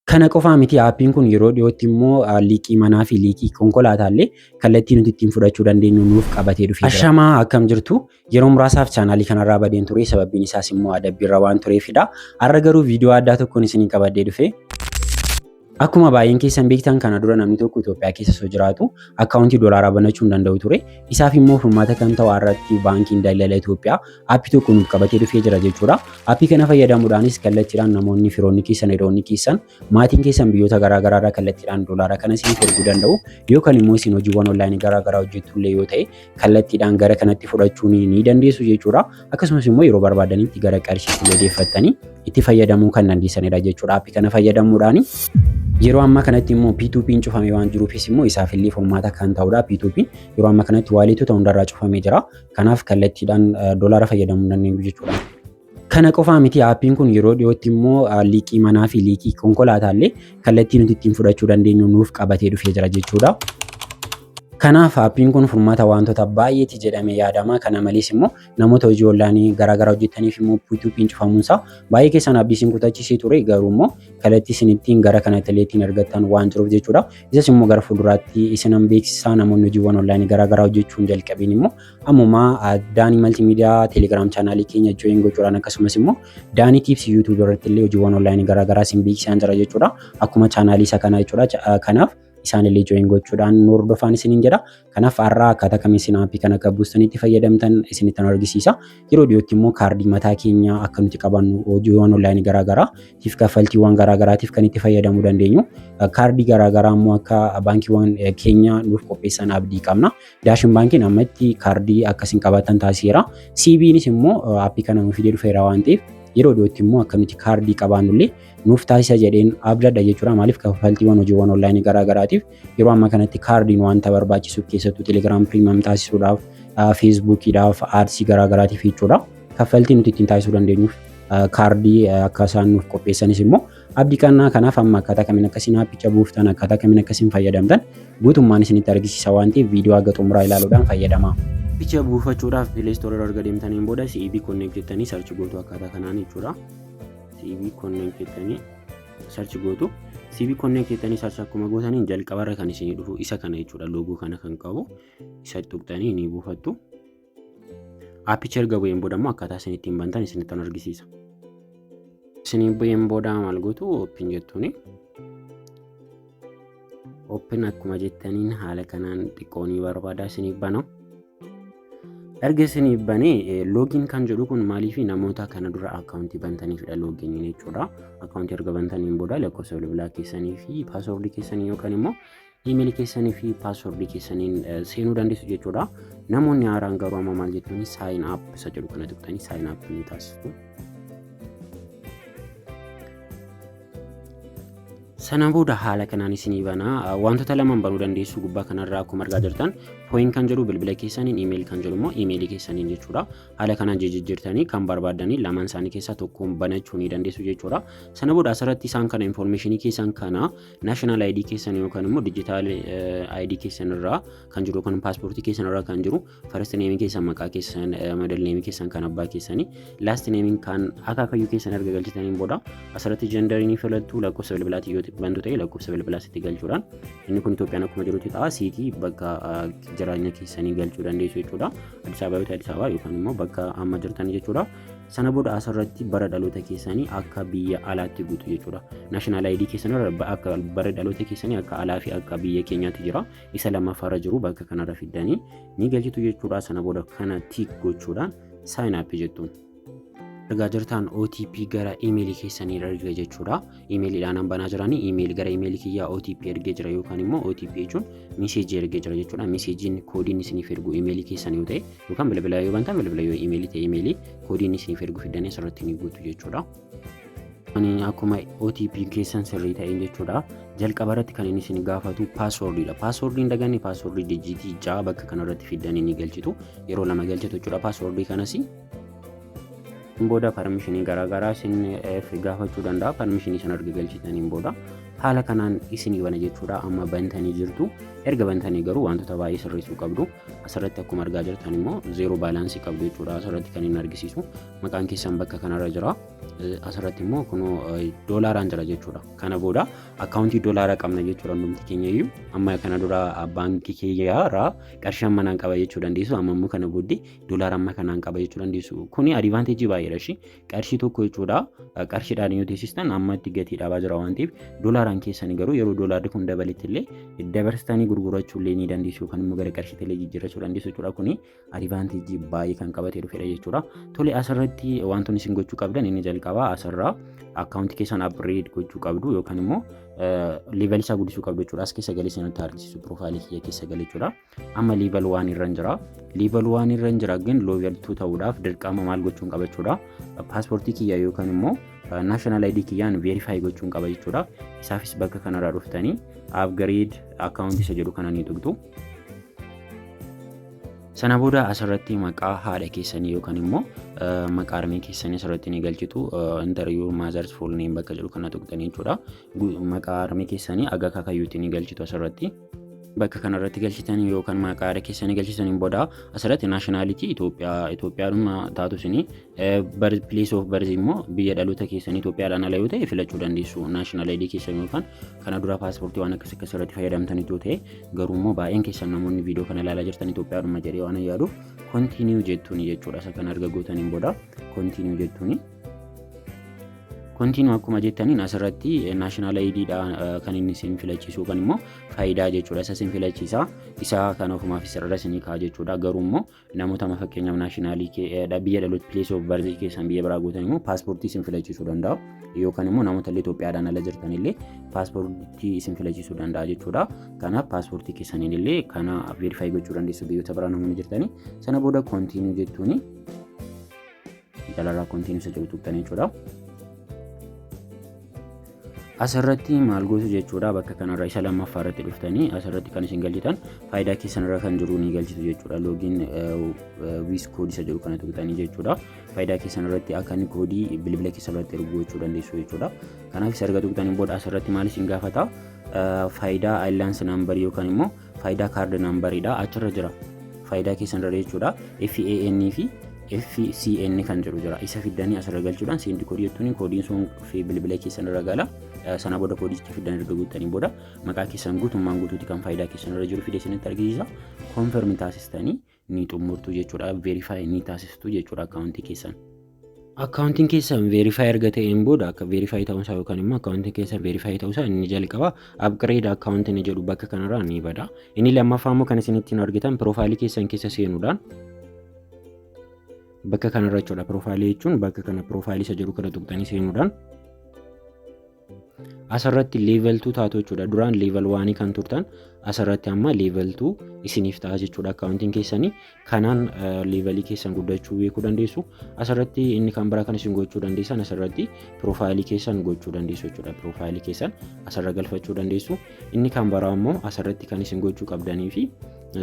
Kana qofaa miti aappiin kun yeroo dhiyootti immoo liiqii manaa fi liiqii konkolaataallee kallattii nuti ittiin fudhachuu dandeenyu nuuf qabatee dhufee jira. Ashamaa akkam jirtu yeroo muraasaaf chaanaalii kanarraa badeen ture sababiin isaas immoo adabbiirra waan tureefidha. Har'a garuu viidiyoo addaa tokkoon isinii qabadhee dhufe. Akkuma baay'een keessan beektan kana dura namni tokko Itoophiyaa keessa osoo jiraatu akkaawuntii doolaaraa banachuu hin danda'u ture. Isaaf immoo furmaata kan ta'u har'atti baankiin daldala Itoophiyaa Aappii tokko nuuf qabatee dhufee jira jechuudha. Aappii kana fayyadamuudhaanis kallattiidhaan namoonni firoonni keessan, hiriyoonni keessan, maatiin keessan biyyoota garaa garaa irraa kallattiidhaan doolaara kana isiniif erguu danda'u. Yoo kan immoo isin hojiiwwan onlaayinii garaa garaa hojjettu illee yoo ta'e kallattiidhaan gara kanatti fudhachuu ni dandeessu jechuudha. Akkasumas immoo yeroo barbaadanitti gara qarshiitti illee deeffattanii itti fayyadamuu kan dandeessanidha jechuudha. Aappii kana fayyadamuudhaani. Yeroo ammaa kanatti immoo P2P'n cufamee waan jiruufis immoo isaaf illee furmaata kan ta'udha. P2P'n yeroo ammaa kanatti waaliitota hundarraa cufamee jira. Kanaaf kallattiidhaan doolaara fayyadamuu hin dandeenyu jechuudha. Kana qofaa miti aappiin kun yeroo dhiyootti immoo liiqii manaa fi liiqii konkolaataallee kallattii nuti ittiin fudhachuu dandeenyu nuuf qabatee dhufee jira jechuudha. Kanaaf aappiin kun furmaata wantoota baay'eeti jedhamee yaadama. Kana malees immoo namoota hojii onlaayinii garaagaraa hojjetaniif immoo P2P'n cufamuunsaa baay'ee keessan abdii isin kutachiisee ture garuu immoo kallattii isin ittiin gara kanatti illee ittiin argattan waan jiruuf jechuudha. Isas immoo gara fuulduraatti isinan beeksisaa namoonni hojiiwwan onlaayinii garaagaraa hojjechuun jalqabiin immoo ammuma daanii maltiimiidiyaa teelegiraam chaanaalii keenya jooyin gochuudhaan akkasumas immoo daanii tiips yuutuubii irratti illee hojiiwwan onlaayinii garaagaraa isin beeksisaan jira jechuudha. Akkuma chaanaalii isa kanaa jechuudha. Kanaaf isaan illee jooyin gochuudhaan nu hordofaan isiniin jedha. Kanaaf har'aa akkaataa kamiin isin aappii kana akka buustanitti fayyadamtan isinitti nu argisiisa. Yeroo dhiyootti immoo kaardii mataa keenyaa akka nuti qabannu hojiiwwan onlaayinii garaagaraa tiif kaffaltiiwwan garaagaraatiif kan itti fayyadamuu dandeenyu kaardii garaagaraa immoo akka baankiiwwan keenya nuuf qopheessan abdii qabna. Daashin baankiin ammatti kaardii akka isin qabaattan taasiseera. CBnis immoo aappii kana nuuf fidee dhufeera waan ta'eef yeroo dhiyootti immoo akka nuti kaardii qabaannullee nuuf taasisa jedheen abdadha jechuudha. Maaliif kaffaltiiwwan hojiiwwan onlaayinii garaagaraatiif Yeroo amma kanatti kaardiin wanta barbaachisuuf keessattuu Telegram Premium taasisuudhaaf, Facebookiidhaaf, Ads garaagaraatiif jechuudha. Kaffaltii nuti ittiin taasisuu dandeenyuuf kaardii akka isaan nuuf qopheessanis immoo abdii kannaa kanaaf amma akkaataa kamiin akka isin aappicha buuftan akkaataa kamiin akka isin fayyadamtan guutummaan isinitti argisiisa waan ta'eef viidiyoo haga xumuraa ilaaluudhaan fayyadamaa. Appicha buufachuudhaaf Play Store erga deemtaniin booda CEB Connect jettanii sarchi gootu akkaataa kanaan jechuudha. CEB Connect jettanii search gootu CV konneen keessanii search akkuma gootaniin jalqabarra kan isinii dhufu isa kana jechuudha loogoo kana kan qabu isa tuqxanii ni buufattu. Appicha erga bu'een booda immoo akkaataa isin ittiin bantan isinitti kan argisiisa. Isinii bu'een booda maal gootu ooppiin jettuuni. Ooppiin akkuma jettaniin haala kanaan xiqqoo ni barbaada isiniif bana. erga isiniif banee loogiin kan jedhu kun maaliif namoota kana dura akkaawuntii bantaniifidha loogiin jechuudha akkaawuntii erga bantaniin booda lakkoofsa bilbilaa keessanii fi paaswoordii keessanii yookaan immoo iimeelii keessanii fi paaswoordii keessaniin seenuu dandeessu jechuudha namoonni haaraan garuu amma maal jechuun saayin aap isa jedhu kana tuqxanii saayin aap ni taasisu. Sana booda haala kanaan isinii bana wantoota lamaan banuu dandeessu gubbaa kanarraa akkuma argaa jirtan pooyin kan jedhu bilbila keessaniin iimeeli kan jedhu immoo iimeelii keessaniin jechuudha. Haala kanaan jijjiirtanii kan barbaadanii lamaan isaanii keessaa tokkoon banachuu ni dandeessu jechuudha. Sana booda asirratti isaan kana infoormeeshinii keessan kana naashinaal ayidii keessan yookaan immoo dijitaal ayidii keessan irraa kan jiru yookaan paaspoortii keessan irraa kan jiru First name keessan maqaa keessan, middle name keessan kan abbaa keessanii, last name kan akaakayyuu keessan erga galchitaniin booda asirratti gender ni filattu lakkoofsa bilbilaatiin yoo bantu ta'e lakkoofsa bilbilaas itti galchuudhaan inni kun Itoophiyaan akkuma jirutti ta'a siitii bakka jireenya keessanii galchuu dandeessu jechuudha. Addis Ababa yoo ta'e Addis Ababa yookaan immoo bakka amma jirtan jechuudha. Sana booda asirratti bara dhaloota keessanii akka biyya alaatti guutu jechuudha. National ID keessan irra akka bara dhaloota keessanii akka alaa fi akka biyya keenyaatti jira. isa lammaffaarra jiru bakka kanarra fiddanii ni galchitu jechuudha. Sana booda kana tiik gochuudhaan sign up jettuun. Ergaa jirtaan OTP gara imeelii keessanii erga jechuudha. Imeeliidhaan an banaa jiranii imeeli gara imeelii kiyyaa OTP ergee jira yookaan immoo OTP jechuun miseejii ergee jira jechuudha. Miseejiin koodiin isiniif ergu imeelii keessan yoo ta'e yookaan bilbila yoo bantan bilbila yoo imeelii ta'e imeelii koodiin isiniif ergu fiddanii asirratti ni guutu jechuudha. Ani akkuma OTP keessan sirrii ta'een jechuudha. Jalqaba irratti kan inni isin gaafatu paaswoordiidha. Paaswoordii hin daganne paaswoordii dijiitii ja'a bakka kanarratti fiddan inni galchitu. Yeroo lama galchitu jechuudha paaswoordii kanas. Hin booda parmishinii garaagaraa isin gaafachuu danda'a. Parmishinii sana erga galchitaniin booda haala kanaan isinii bana jechuudha. Amma bantanii jirtu. Erga bantanii garuu wantoota baay'ee sirreessuu qabdu. Asirratti akkuma argaa jirtan immoo zeeroo baalaansii qabdu jechuudha. Asirratti kan inni argisiisu. maqaan keessan bakka kanarra jira asirratti immoo kunoo doolaaraan jira jechuudha kana booda akkaawuntii doolaara qabna jechuudha hundumti keenya iyyuu amma kana dura baankii kiyyaarraa qarshii amma naan qaba jechuu dandeessu amma immoo kana booddee doolaara amma kanaan qaba jechuu dandeessu kuni adivaanteejii baay'eedha ishii qarshii tokko jechuudha qarshiidhaan yoo teessistan amma itti gatii dhabaa jira waan ta'eef doolaaraan keessan garuu yeroo doolaarri kun dabaletti illee dabarsitanii gurgurachuu illee ni dandeessu yookaan immoo gara qarshiitti illee jijjiirrachuu dandeessu jechuudha kuni adivaanteejii baay'ee kan qabatee dhufedha jechuudha. Tole asirratti wantoonni isin gochuu qabdan inni jalqabaa asirraa akkaawuntii keessan upgrade gochuu qabdu yookaan immoo level isaa guddisuu qabdu jechuudha. As keessa galee sanatti argisiisu piroofaayilii kiyya keessa galee jechuudha. Amma level waan irra jira. Level waan irra jira garuu level 2 ta'uudhaaf dirqama maal gochuun qaba jechuudha. Paaspoortii kiyya yookaan immoo national ID kiyyaan verify gochuun qaba jechuudha. Isaafis bakka kanarraa dhuftanii upgrade akkaawuntii isa jedhu kana ni tuqxu. Sana booda asirratti maqaa haadha keessanii yookaan immoo maqaa harmee keessanii asirratti ni galchitu. Interview Mother's Full Name bakka jedhu kana tuqxanii jechuudha. Maqaa harmee keessanii aga kakayyuutti ni galchitu asirratti. Bakka kanarratti galchitan yookaan maqaa haadha keessanii galchitaniin booda asirratti naashinaalitii Itoophiyaa Itoophiyaadhuma taatu isinii pilees oof barzi immoo biyya dhaloota keessanii Itoophiyaadhaan ala yoo ta'e filachuu dandeessu naashinaal ayidii keessan yookaan kana dura paaspoortii waan akkas akkas irratti fayyadamtan ituu ta'e garuu immoo baay'een keessan namoonni viidiyoo kana ilaalaa jirtan Itoophiyaadhuma jedhee waan yaaduuf kontiiniyuu jettuun jechuudha isa kan arga gootaniin booda kontiiniyuu jettuun. Kontiinuu akkuma jettaniin asirratti naashinaal ayidiidha kan inni isin filachiisu yookaan immoo faayidaa jechuudha isa isin filachiisa isa kan ofumaaf isarra isin kaa jechuudha garuu immoo namoota amma fakkeenyaaf naashinaalii biyya dhaloota pilees of barzii keessan biyya biraa gootan immoo paaspoortii isin filachiisuu danda'u yookaan immoo namoota illee Itoophiyaadhaan ala jirtan illee paaspoortii isin filachiisuu danda'a jechuudha. Kanaaf paaspoortii keessaniin illee kana veerifaayi gochuu dandeessu biyyoota biraa namoonni jirtanii sana booda koontiinuu jettuuni Jalaala kontiinisa jedhu tuqxanii jechuudha. Asirratti maal gootu jechuudha bakka kanarra isa lammaffaa irratti dhuftanii asirratti kan isin galchitan faayidaa keessanirra kan jiru ni galchitu jechuudha loogiin wiis koodii isa jedhu kana tuqxanii jechuudha faayidaa keessanirratti akka inni koodii bilbila keessanirratti erguu gochuu dandeessu jechuudha kanaaf isa erga tuqxanii booda asirratti maal isin gaafata faayidaa ayilaansi naambarii yookaan immoo Faayidaa kaardi naambariidha. Achirra jira. Faayidaa keessan irra jechuudha. FAN fi FCN kan jedhu jira. Isa fiddanii asirra galchuudhaan seendi koodii jettuun koodiin sun dhufee bilbila keessan irra gala. Sana booda koodicha fiddan erga guuttanii booda maqaa keessan guutummaan guutuuti kan faayidaa keessan irra jiru fidee isinitti argisiisa. Konfirmi taasistanii ni xumurtu jechuudha verify ni taasistu jechuudha akkaawuntii keessan. Akkaawuntiin keessan verify erga ta'een booda akka verify ta'uusaa yookaan immoo akkaawuntiin keessan verify ta'uusaa inni jalqaba upgrade akkaawuntii ni jedhu bakka kanarraa ni bada. Inni lammaffaa immoo kan isinitti hin argitan piroofaayilii keessan keessa seenuudhaan bakka kanarra jechuudha piroofaayilii jechuun bakka kana piroofaayilii isa jedhu kana tuqxanii seenuudhaan Asirratti level 2 taatu jechuudha. Duraan level 1 kan turtan asirratti amma level 2 isiniif ta'a jechuudha akkaawuntiin keessanii. Kanaan levelii keessan guddachuu beekuu dandeessu. Asirratti inni kan biraa kan isin gochuu dandeessan asirratti piroofaayilii keessan gochuu dandeessu jechuudha. Piroofaayilii keessan asirra galfachuu dandeessu. Inni kan biraa immoo asirratti kan isin gochuu qabdanii fi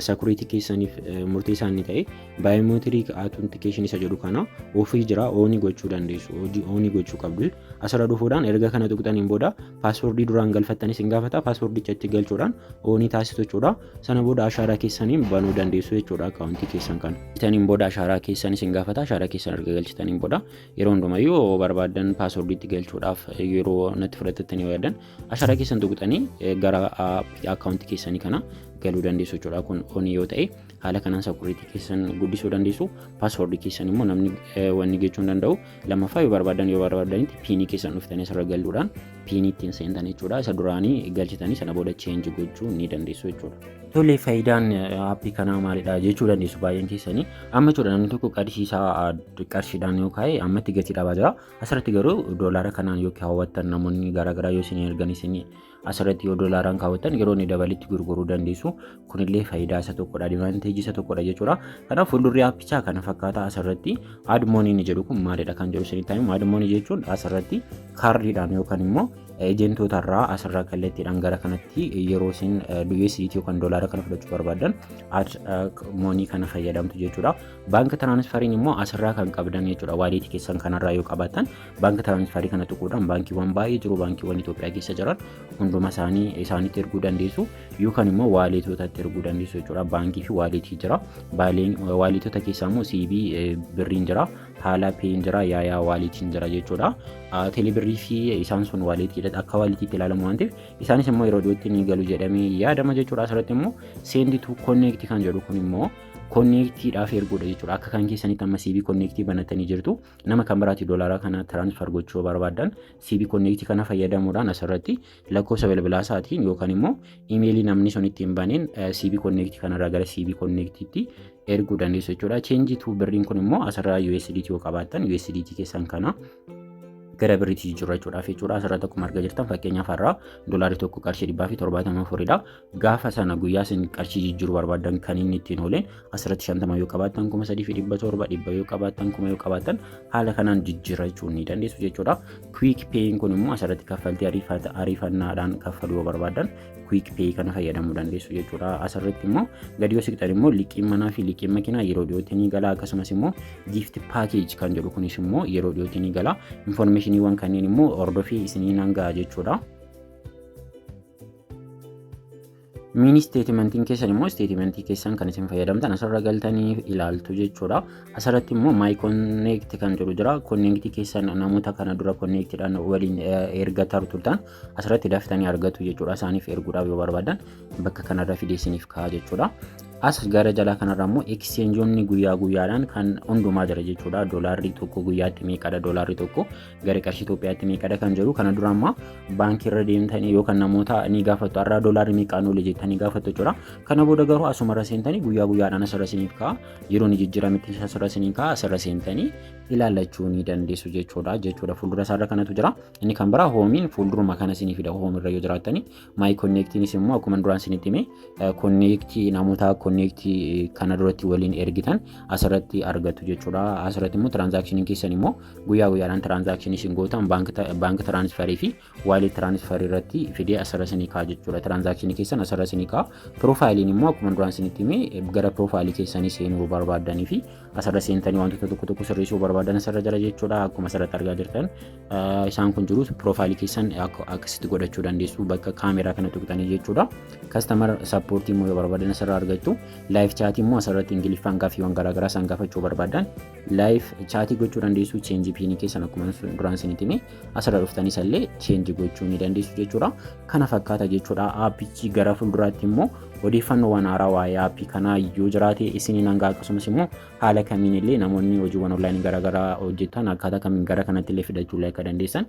sakuriitii keessaniif murteessaa inni ta'e baayoomeetirii autentikashin isa jedhu kana ofii jira oonii gochuu dandeessu. Oonii gochuu qabdu. asirra dhufuudhaan erga kana tuqxaniin booda paaswordii duraan galfattanis hin gaafata paaswordicha itti galchuudhaan oonii taasisu jechuudha sana booda ashaaraa keessaniin banuu dandeessu jechuudha akkaawuntii keessan kana galchitaniin booda ashaaraa keessanis hin gaafata ashaaraa keessan erga galchitaniin booda yeroo hundumayyuu yoo barbaadan paaswordii itti galchuudhaaf yeroo natti fudhatattanii yoo yaadan ashaaraa keessan tuqxanii gara akkaawuntii keessanii kana galuu dandeessu jechuudha kun oonii yoo ta'e haala kanaan sakuriitii keessan guddisuu dandeessu paaswordii keessan immoo namni wanni gochuu hin danda'u Lammaffaa yoo barbaadan yoo barbaadanitti piinii keessan dhuftanii asirra galuudhaan piinii ittiin seentan jechuudha. Isa duraanii galchitanii sana booda cheenji gochuu ni dandeessu jechuudha. Tole faayidaan aappii kanaa maalidha jechuu dandeessu baay'een keessanii. Amma jechuudha namni tokko qarshiisaa qarshiidhaan yoo kaa'e ammatti gatii dhabaa jira. Asirratti garuu doolaara kanaan yoo kaawwattan namoonni garaagaraa yoo isin ergan isin asirratti yoo doolaaraan kaawwattan yeroo inni dabalitti gurguruu dandeessu kunillee faayidaa isa tokkodha advanteejii isa tokkodha jechuudha kanaaf fuuldurri aappichaa kana fakkaataa asirratti aadmoonii ni jedhu kun maalidha kan jedhu isinitti himu aadmoonii jechuun asirratti kaardiidhaan yookaan immoo ejentoota irraa asirraa kallattiidhaan gara kanatti yeroo isin USDT yookaan doolaara kana fudhachuu barbaadan moonii kana fayyadamtu jechuudha. Baanka tiraanisfariin immoo asirraa kan qabdan jechuudha. Waaliitii keessan kanarraa yoo qabaatan Baanka tiraansfarii kana tuquudhaan baankiiwwan baay'ee jiru baankiiwwan Itoophiyaa keessa jiran hunduma isaanii isaanitti erguu dandeessu yookaan immoo waaleetootatti erguu dandeessu jechuudha. Baankii fi waaleetii jira. Waaleetoota keessaa immoo CB birriin jira. Haala peen jira. Yaayaa waaleetiin jira jechuudha. Teelebirrii fi isaan sun waaleetiidha akka waaleetiitti ilaalamu waan ta'eef isaanis immoo yeroo dhiyootti ni galu jedhamee yaadama jechuudha. Asirratti immoo seendi tu konneekti kan jedhu kun immoo konneektiidhaaf erguudha jechuudha. Akka kan keessanitti amma CV konneektii banatanii jirtu Nama kan biraatti doolaara kana transfer gochuu barbaadan CB Connect kana fayyadamuudhaan asirratti lakkoofsa bilbilaa isaatiin yookaan immoo imeelii namni sun ittiin baneen CB Connect kanarraa gara CB Connect'tti erguu dandeessu jechuudha. Change to birriin kun immoo asirraa USDT yoo qabaattan USDT keessan kana gara birriitti jijjiirrachuudhaaf jechuudha. Asirratti akkuma argaa jirtan fakkeenyaaf har'aa doolaarri tokko qarshii dhibbaa fi torbaatama afuridha. gaafa sana guyyaa isin qarshii jijjiiruu barbaadan kan inni ittiin ooleen asirratti shantama yoo qabaattan kuma sadii fi dhibba torba dhibba yoo qabaattan kuma yoo qabaattan haala kanaan jijjiirrachuu ni dandeessu jechuudha. Quick Pay'n kun immoo asirratti kaffaltii ariifata ariifannaadhaan kaffaluu yoo barbaadan Quick Pay kana fayyadamuu dandeessu jechuudha. Asirratti immoo gadi yoo siqxan immoo liqiin manaa fi liqiin makiinaa yeroo dhiyootti ni gala akkasumas immoo gift package kan jedhu kunis immoo yeroo dhiyootti ni gala. Infoormeeshiniiwwan kanneen immoo hordofii isiniin hanga'a jechuudha. Miini isteetimentiin keessan immoo isteetimentii keessan kan isin fayyadamtan asirra galtanii ilaaltu jechuudha. Asirratti immoo maay konneekti kan jedhu jira. Konneekti keessan namoota kana dura konneektidhaan waliin erga turtan asirratti daftanii argatu jechuudha. Isaaniif erguudhaaf yoo barbaadan bakka kanarra fidee isiniif ka'a jechuudha. As gara jalaa kanarra immoo ekseenjoonni guyyaa guyyaadhaan kan hundumaa jira jechuudha. Doolaarri tokko guyyaatti meeqadha doolaarri tokko gara qarshii Itoophiyaatti meeqadha kan jedhu kana dura ammaa baankii irra deemtanii yookaan namoota ni gaafattu har'aa doolaarri meeqaan oole jettanii gaafattu jechuudha. Kana booda garuu asuma irra seentanii guyyaa guyyaadhaan asirra isiniif ka'a yeroo ni jijjiiramitti asirra isiniif ka'a asirra seentanii ilaallachuu ni dandeessu jechuudha jechuudha fuuldura isaarra kanatu jira inni kan biraa hoomiin fuulduruma kana isinii fida hoomirra yoo jiraattanii Maayi konneektiinis immoo akkuma duraan isinitti hime konneektii namoota konneektii kana duratti waliin ergitan asirratti argattu jechuudha. Asirratti immoo tiraanzaakshiniin keessan immoo guyyaa guyyaadhaan tiraanzaakshinii isin gootan baank tiraansfarii fi waalet tiraansfarii irratti fidee asirra isinii ka'a jechuudha. Tiraanzaakshinii keessan asirra isinii ka'a. Piroofaayiliin immoo akkuma duraan isinitti hime gara piroofaayilii keessanii seenuu barbaaddanii fi asirra seentanii wantoota tokko tokko sirreessuu barbaadan asirra jira jechuudha akkuma asirratti argaa jirtan isaan kun jirus piroofaayilii keessan akkasitti godhachuu dandeessu bakka kaameraa kana tuqxanii jechuudha kastamar sappoortii immoo yoo barbaadan asirra argattu laayif chaatii immoo asirratti ingiliffaan gaaffiiwwan garaagaraa isaan gaafachuu barbaadan laayif chaatii gochuu dandeessu cheenjii piinii keessan akkuma duraan isinitti hime asirra dhuftanii isallee cheenji gochuu ni dandeessu jechuudha. Kana fakkaata jechuudha. Aappichi gara fuulduraatti immoo odeeffannoowwan haaraa waa'ee aappii kanaa yoo jiraate isiniin hanga akkasumas immoo haala kamiin illee namoonni hojiiwwan onlaayinii garaagaraa hojjetan akkaataa kamiin gara kanatti illee fidachuu illee akka dandeessan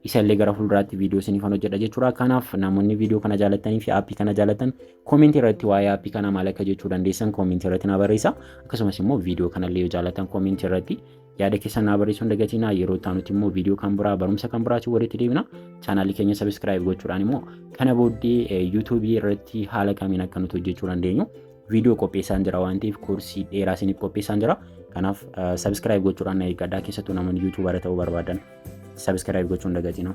isallee gara fuulduraatti viidiyoo isiniif hojjedha jechuudha. Kanaaf namoonni viidiyoo kana jaalatanii fi aappii kana jaalatan koomentii irratti waa'ee aappii kanaa maal akka jechuu dandeessan koomentii irratti na barreessa. Akkasumas immoo viidiyoo kanallee yoo jaalatan koomentii irratti Yaada keessan naa barreessuu hin dagatinaa. Yeroo itti aanutti immoo viidiyoo kan biraa barumsa kan biraatiin walitti deebina. Chaanaalii keenya sabiskiraayib gochuudhaan immoo kana booddee yuutuubii irratti haala kamiin akka nuti hojjechuu dandeenyu viidiyoo qopheessaan jira waan ta'eef koorsii dheeraa isiniif qopheessaan jira. Kanaaf sabiskiraayib gochuudhaan na eeggadhaa keessattuu namoonni yuutuubara ta'uu barbaadan sabiskiraayib gochuu hin dagatinaa.